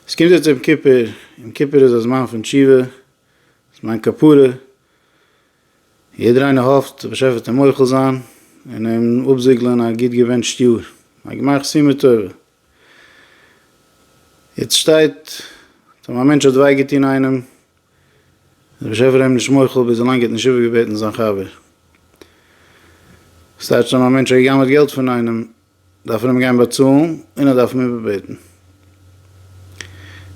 עס קומט יעצט יום כיפור, יום כיפור איז א זמן פון תשובה, א זמן כפרה, יעדער איינער האפט דער באשעפער וועט אים מוחל זיין און אים אפזיגלען א גוט געוואונטשט יאר, א גמח סימא טובה. יעצט שטייט אז אויב א מענטש האט וויי געטון איינעם, איז דער באשעפער אים נישט מוחל ביז ווילאנג ער האט נישט איבערגעבעטן זיין חבר. ס'טייטש אז אויב א מענטש האט גע'גנב'עט געלט פון איינעם, דארף מען אים גיין באצאלן און ער דארף אים איבערבעטן.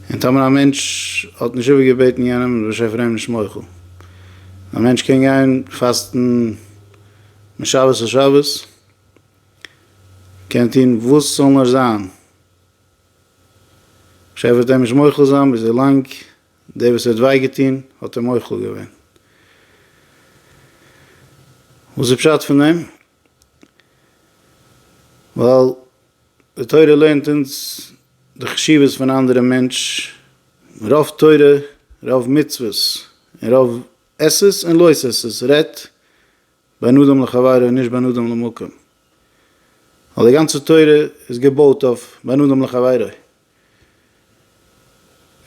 און טאמער א מענטש האט נישט איבערגעבעטן יענעם איז באשעפ פאר אים נישט מוחל. א מענטש קען גיין פאסטן משבת לשבת, קען טון וואס ס'זאל נאר זיין, באשעפ וועט אים נישט מוחל זיין ביז ווי לאנג דער וואס האט וויי געטון האט אים מוחל געווען. וואס איז פשט פון דעם? ווייל די תורה לערנט אונז די חשיבות פון אנדערע מענטש, רוב תורה רוב מצוות און רוב עשות און לא עשות רעדט בין אדם לחבירו און נישט בין אדם למקום, ווייל די גאנצע תורה איז געבויט אויף בין אדם לחבירו,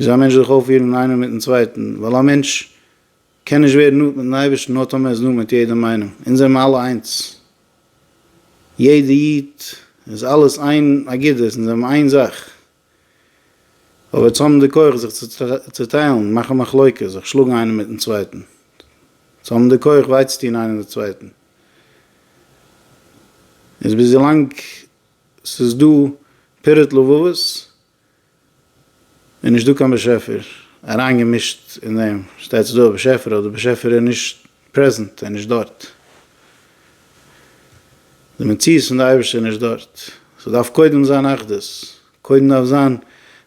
וויאזוי א מענטש זאל זיך אויפפירן איינער מיטן צווייטן, ווייל א מענטש קען נישט ווערן נאנט מיטן אייבערשטן נאר טאמער איז נאנט מיט יעדעם איינעם, אונז זעמער אלע איינס, יעדע איד איז אלעס איין אגודה, אונז זעמער איין זאך, אויב אונז האבן די כח זיך צו צעטיילן, מאכן מחלוקה, זיך שלאגן איינער מיטן צווייטן, צו האבן די כח וויי צו טון איינער די צווייטן, איז ביז ווילאנג ס'איז דא פירות לבבות, איז נישט דא קיין באשעפער אריין געמישט אין דעם, שטייט ס'איז דא א באשעפער אבער דער באשעפער איז נישט פרעזענט, ער איז נישט דארט, די מציאות פון די אייבערשטער איז נישט דארט, ס'דארף קודם זיין אחדות, קודם דארף זיין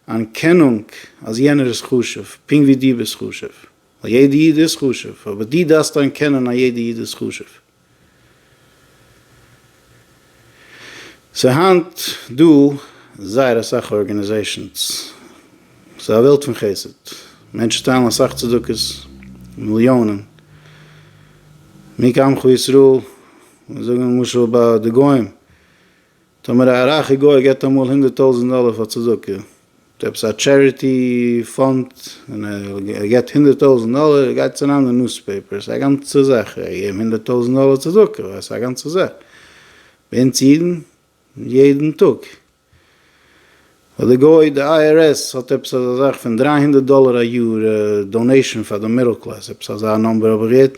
אנערקענונג אז יענער איז חשוב פונקט ווי דו ביסט חשוב, ווייל יעדע איד איז חשוב אבער דו דארפסט אנערקענען אז יעדע איד איז חשוב. ס'איז היינט דא זייער אסאך ארגענעזעישאנס, ס'איז א וועלט פון חסד, מענטשן טיילן אסאך צדקות, מיליאנען, מי כעמך ישראל, זאגן למשל ביי די גוים, טאמער א רייכע גוי געט אמאל הונדערט טויזענט דאלער פאר צדקה, צו עפעס א טשעריטי פאנד, און ער געט הונדערט טויזענט דאלער, גייט עס אריין אין די ניוספעיפער, ס'איז א גאנצע זאך, ער האט געגעבן הונדערט טויזענט דאלער צדקה, ווייל עס איז א גאנצע זאך. ביי אונז אידן, יעדן טאג. פאר די גוי, די IRS האט עפעס אזא זאך פון דרײַ הונדערט דאלער א יאר דאנעישאן פאר די מידל קלעס, עפעס אזא נומבער האב איך געהערט,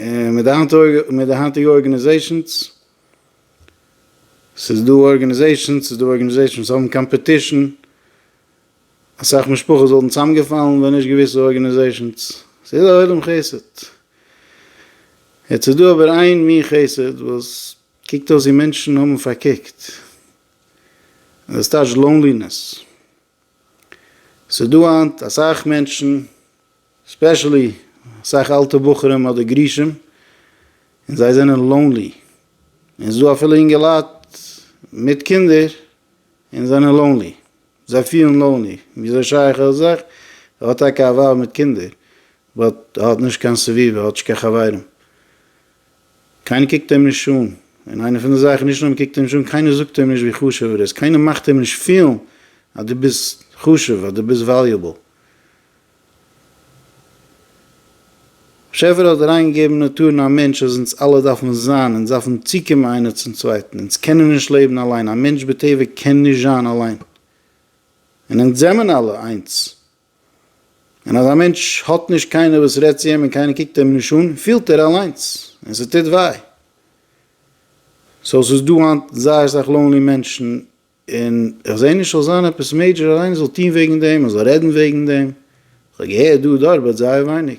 און מיט די היינטיגע ארגענעזעישאנס, ס'איז דא ארגענעזעישאנס, ס'איז דא ארגענעזעישאנס וואס האבן קאמפעטישן, אסאך משפחות וואלטן צוזאמגעפאלן ווען נישט געוויסע ארגענעזעישאנס, ס'איז א עולם חסד. יעצט איז דא אבער איין מין חסד וואס קוקט אויס ווי מענטשן האבן פארקוקט, און דאס טייטשט לאונלינעס. ס'איז דא היינט אסאך מענטשן, ספעשעלי אסאך אלטע בחורים אדער גרושים, און זיי זענען לאונלי. און ס'איז דא אפילו אינגעלייט מיט קינדער און זענען לאונלי. זיי פילן לאונלי. וויאזוי שייך ער זיך? ער האט טאקע א ווייב מיט קינדער, באט ער האט נישט קיין סביבה, ער האט נישט קיין חברים. קיינער קוקט אים נישט אן, און איינע פון די זאכן, נישט נאר מ'קוקט אים נישט אן, קיינער זאגט אים נישט ווי חשוב ער איז, קיינער מאכט אים נישט פילן אז דו ביסט חשוב, אז דו ביסט וואליובעל. באשעפער האט אריינגעגעבן אין נאטור אין א מענטש אז אונז אלע דארפן זיין, אונז דארפן צוקומען איינער צום צווייטן, אונז קענען נישט לעבן אליין, א מענטש בטבע קען נישט זיין אליין, און אונז זעמען אלע איינס, און אז א מענטש האט נישט קיינער וואס רעדט צו אים און קיינער קוקט אים נישט אן, פילט ער אליינס, און ס'טוט וויי. סאו ס'איז דא היינט זייער סאך לאונלי מענטשן, און איך זע נישט ס'זאל זיין עפעס מעידזשער אז איינער זאל טון וועגן דעם, מען זאל רעדן וועגן דעם. איך האב געהערט דא און דארט באט זייער ווייניג.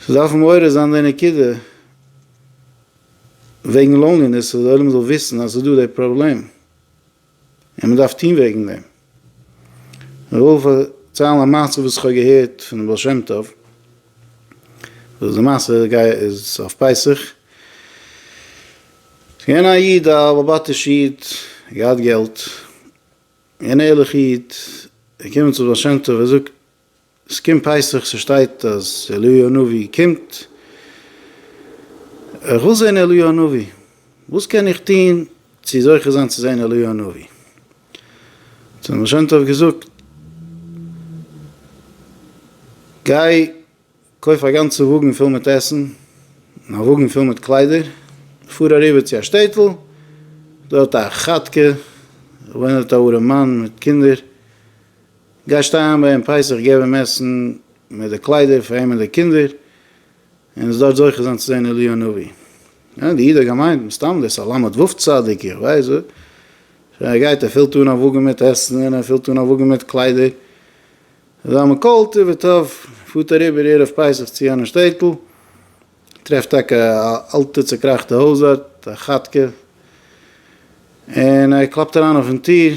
ס'דארף מעורר זיין די נקודה. וועגן לאנגענעס אז די עולם זאל וויסן אז עס איז דא די פראבלעם און מען דארף טון וועגן דעם. איך וויל פארציילן א מעשה וואס איך האב געהערט פון די בעל שם טוב, וואס די מעשה גייט איז אויף פסח, ס'איז געווען א איד א באבאטיש איד, געהאט געלט, געווען ערליך איד, ער קומט צום בעל שם טוב ער זאגט, ס'קומט פסח, ס'שטייט אז אליהו הנביא קומט, איך וויל זען אליהו הנביא, וואס קען איך טון צו זוכה זיין צו זען אליהו הנביא? האט אים די שם טוב געזאגט, גיי קויף א גאנצע וואגן פול מיט עסן און א וואגן פול מיט קליידער, פאר אריבער צו א שטעטל, דארט א כאטקע, וואוינט דארט א ארעם מאן מיט קינדער, גייסט אריין ביי אים פסח געב אים עסן מיט די קליידער פאר אים און די קינדער און זאלסט זוכה זיין צו זען אליהו הנביא. יא די איד האט געמיינט מסתם דאס א למד ו' צדיק איך ווייס וואס. שוין ער גייט ער פילט אן א וואגן מיט עסן און ער פילט אן א וואגן מיט קליידער. אזא מין קול טוב וטוב פארט אריבער ערב פסח צו יענע שטעטל טרעפט טאקע א אלטע צוקראכטע הויז דארט א כאטקע און ער קלאפט אריין אויפן טיר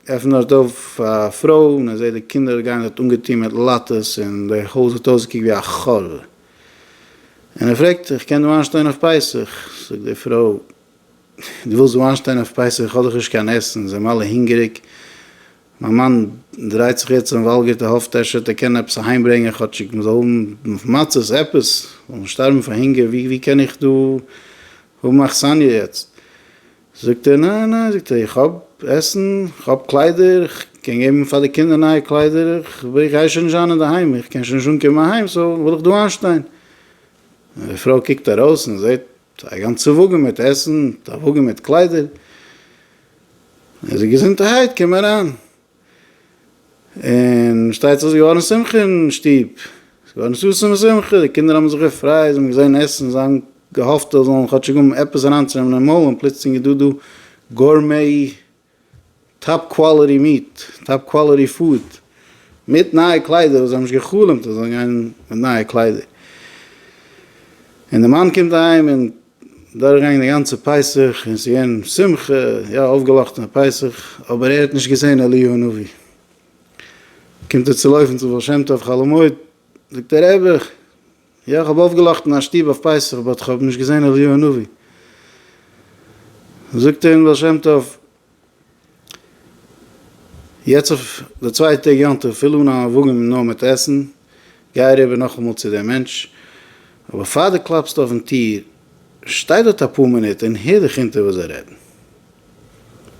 עפן דארט אויף א פרוי און איך זעה די קינדער גייען דארט אנגעטון מיט לאטעס און די הויז האט אויסגעקוקט ווי א חלל. און ער פרעגט איך קען דא איינשטיין אויף פסח? זאגט די פרוי דו ווילסט דא איינשטיין אויף פסח איך האב דאך נישט קיין עסן אונז זעמער אלע הונגעריג מיין מאן דרייט זיך יעצט און וואלגערט ער האפט אפשר ער קען עפעס אהיים ברענגען כאטשיג מ'זאל האבן מצות עפעס מ'זאל נישט שטארבן פון הונגער ווי קען איך דא האבן אכסניא יעצט זאגט ער ניין ניין זאגט ער איך האב עסן איך האב קליידער איך קען געבן פאר די קינדער נייע קליידער איך גיי שוין נישט זיין אינדערהיים איך קען שוין נישט אנקומען אהיים סאו וועל איך דא איינשטיין און די פרוי קוקט ארויס און זעט א גאנצע וואגן מיט עסן א וואגן מיט קליידער און זאגט געזונטערהייט קום אריין און שטייטז איז געווארן שמחה אין שטוב, עס איז געווארן ששון ושמחה, די קינדער האבן זיך געפרייט, זיי האבן געזען עסן, זיי האבן געהאפט זיי זאלן כאטשיג האבן עפעס אריינצונעמען אין מויל, און פלוצלינג איז דא דא גורמי, טאפ קוואליטי מיעט, טאפ קוואליטי פוד, מיט נייע קליידער, וואס זיי האבן נישט גע'חלומ'ט אז זיי זאלן גיין מיט נייע קליידער, און די מאן קומט אהיים און. דורכגעגאנגען די גאנצע פסח און עס איז געווען שמחה, יא אויפגעלאכטענע פסח, אבער ער האט נישט געזען אליהו הנביא. קומט ער צו לויפן צום בעל שם טוב חלומות, זאגט ער רבי, יא איך האב אויפגעלאכטן אין א שטוב אויף פסח באט איך האב נישט געזען אליהו הנביא. זאגט אים בעל שם טוב. יעצט אויף די צוויי טעג יום טוב פיל אן א וואגען נאר מיט עסן, גיי אריבער נאכאמאל צו דעם מענטש, אבער פאר דו קלאפסט אויפן טיר, שטיי דארט אפאר מינוט און הער דיך אונטער וואס זיי רעדן.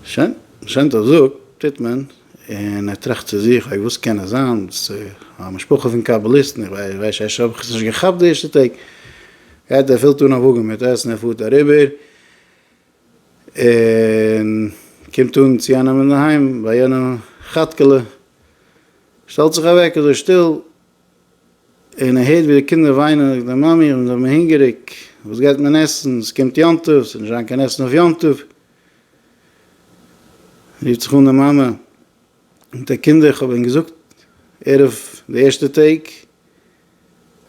שוין, שם טוב זאגט, טוט מען, און ער טראכט צו זיך, אוי וואס קען עס זיין, א משפחה פון קאבאליסטן, איך ווייס שוין שוין האב איך עס נישט געכאפט די ערשטע טעג, גייט ער פילט אן א וואגען מיט עסן ער פארט אריבער, און קומט אן צו יענעם אינדערהיים ביי יענע כאטקעלע, שטעלט זיך אוועק אזוי שטיל, און ער הערט ווי די קינדער וויינען, זאגט די מאמי, מיר זענען הונגעריג, וואס גייט מען עסן, עס קומט יום טוב, עס וועט נישט זיין קיין עסן אויף יום טוב. רופט זיך אן די מאמע, זאגט ער, קינדער, איך האב ענק געזאגט ערב די ערשטע טעג,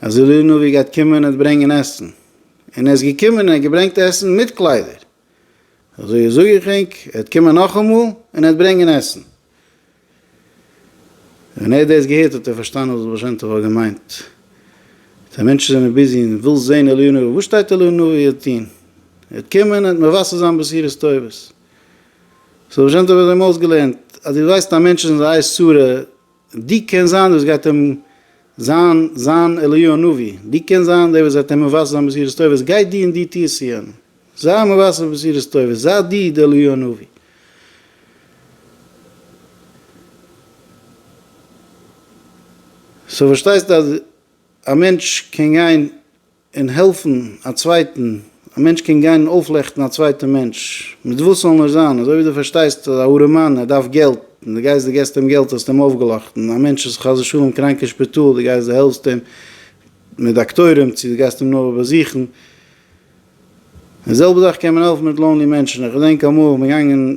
אז אליהו נביא גייט קומען און ברענגען עסן, און ער איז געקומען און ער האט געברענגט עסן מיט קליידער, אזוי זאג איך ענק, ער וועט קומען נאכאמאל און ער וועט ברענגען עסן. ווען ער האט דאס געהערט האט ער פארשטאנען וואס בעל שם טוב האט געמיינט. די מענטשן זענען ביזי און וויל זען אליהו נביא, וואס שטייט אליהו נביא וועט טון? ער וועט קומען און ער וועט מבשר זיין בשורות טובות. סאו בעל שם טוב האט אים אויסגעלערנט, אז דו ווייסט אז מענטשן זענען זיי עיי סורא, די קען זיין דאס גייט אים זיין זיין אליהו הנביא, די קען זיין דער וואס וועט אים מבשר זיין בשורות טובות, גיי די און די טוה עס יענע, זיי מבשר בשורות טובות, זיי די די אליהו הנביא. סאו פארשטייסט אז א מענטש קען גיין. און העלפן א צווייטן, א מענטש קען גיין און אויפלעכטן א צווייטע מענטש, מיט וואס ס'זאל נאר זיין, אזוי ווי דו פארשטייסט אז א ארעמאן ער דארף געלט, און דו גייסט דו געסט אים געלט האסטו אים אויפגעלאכטן, א מענטש איז חס ושלום קראנק אין שפיטאל, דו גייסט דו העלפסט אים מיט דאקטוירים, צו דו גייסט אים נאר באזוכן, די זעלבע זאך קען מען העלפן מיט לאנלי מענטשן, איך געדענק אמאל איך בין געגאנגען.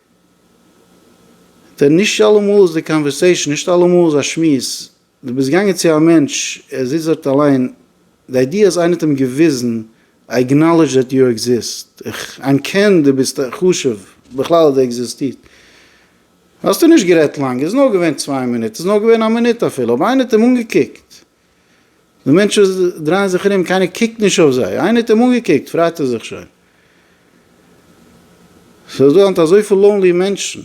ט, נישט אלעמאל איז די קאנווערסעישאן, נישט אלעמאל איז א שמועס, דו ביסט געגאנגען צו א מענטש, ער זיצט דארט אליין, די איידיע אז איינער האט אים געוויזן, איי עקנאלעדזש דעט יו עקזיסט, איך אנקען דו ביסט חשוב, בכלל אז דו עקזיסטירט. האסטו נישט גערעדט לאנג, עס איז נאר געווען צוויי מינוט, עס איז נאר געווען א מינוט אפילו, אבער איינער האט אים אנגעקוקט, די מענטשן דרייען זיך ארום, קיינער קוקט נישט אויף זיי. איינער האט אים אנגעקוקט, פרייט ער זיך שוין. ס'איז דא היינט אזויפיל לאונלי מענטשן.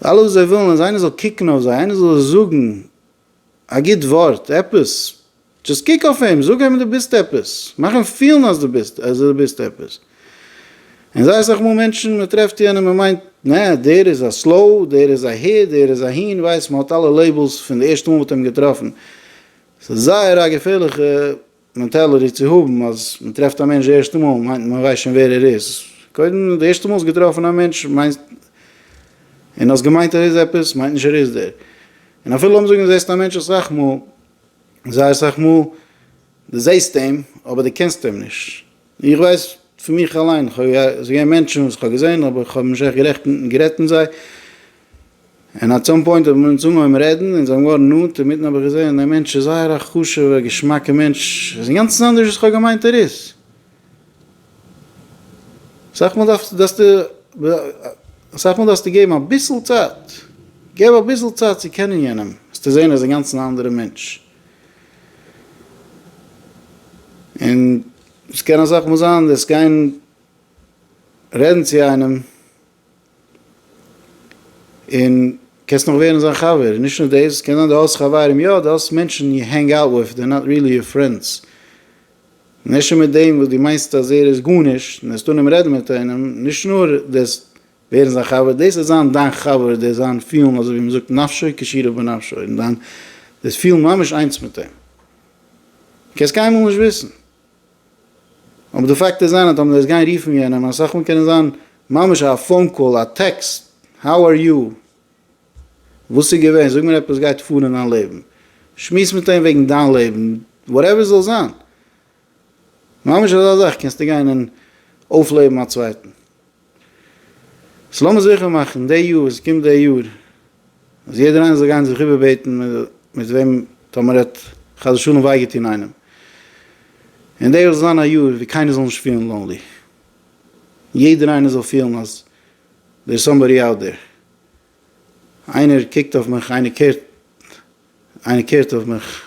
אלעס וואס זיי ווילן אז איינער זאל קוקן אויף זיי, איינער זאל זיי זאגן א גוט ווארט, עפעס. דזשאסט קוק אויף אים, זאג אים דו ביסט עפעס, מאך אים פילן אז דו ביסט אז דו ביסט עפעס. און זייער אסאך מאל מענטשן מען טרעפט יענעם מען מיינט נע דער איז א סלאו, דער איז אהער, דער איז אהין, ווייסט מען האט אלע לעיבלס פון די ערשטע מאל מ'האט אים געטראפן. ס'איז זייער א געפערליכע מענטעליטי צו האבן אז מען טרעפט א מענטש די ערשטע מאל מיינט מען ווייסט שוין ווער ער איז. קודם די ערשטע מאל האסט געטראפן א מענטש מיינסט און האסט געמיינט ער איז עפעס מיינט נישט ער איז דער. און אפילו לאמיר זאגן זעסט א מענטש אסאך מאל זייער סאך מאל דו זעסט אים אבער דו קענסט אים נישט, איך ווייס פון מיך אליין, כ'האב עס געווען מענטשן וואס כ'האב געזען אבער כ'האב נישט עכט גערעכט גערעדט מיט זיי, און עט סאם פוינט האבן מיר אונז אנגעהויבן רעדן און זיי האבן געווארן נאנט, אינמיטן האב איך געזען דער מענטש איז זייער א חשוב'ער געשמאקע מענטש, ער איז אינגאנצן אנדערש וואס כ'האב געמיינט ער איז. אסאך מאל דארפסטו אסאך מאל דארפסטו געבן אביסל צייט, געב אביסל צייט צו קענען יענעם, וועסטו זען ער איז אינגאנצן א אנדערע מענטש, און עס קען אסאך מאל זיין דאס גיין רעדן צו איינעם, און קענסט נאך ווערן זיין חבר, און נישט נאר דאס, קען זיין דו האסט חברים, יא דו האסט מענטשן יו הענג אוט וויט, דער נאט ריעלי יור פרענדס, נשא מיט דעם וואס דו מיינסט אז ער איז גארנישט, און העסט אננעם רעדן מיט איינעם, נישט נאר דערסט ווערן זיין חבר, דאס איז זיין דיין חבר, דאס זיין פילן אזוי ווי מ'זאגט נפשו כשירו בנפשו, און דיין דאס פילן ממש איינס מיט אים. דו קענסט קיינמאל נישט וויסן. אבער די פאקט איז זיין אז טאמער דו וועסט גיין רופן יענעם, אסאך מאל קען עס זיין ממש א פאון קאל, א טעקסט, האו אר יו? וואס איז געווען? זאג מיר עפעס גייט פאר אין דיין לעבן. שמועס מיט אים וועגן דיין לעבן, וואטעווער ס'זאל זיין. ממש אזא זאך קענסטו גיין און אויפלעבן א צווייטן. סאו לאמיר זיכער מאכן די יאר וואס קומט די יאר אז יעדער איינער זאל גיין זיך איבערבעטן מיט וועם טאמער ער האט חס ושלום וויי געטון איינעם. און די יאר זאל זיין א יאר ווי קיינער זאל נישט פילן לאנלי. יעדער איינער זאל פילן אז דער סאמבאדי אוט דער. איינער קוקט אויף מיך, איינער קערט, איינער קערט אויף מיך,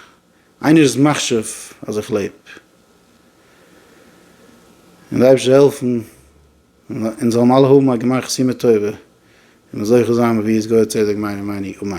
איינער'ס מחשב אז איך לעב. און די אייבערשטער זאל העלפן אונז זאלן אלע האבן א גמר חתימה טובה און זוכה זיין בביאת גואל צדק מהרה י אמן.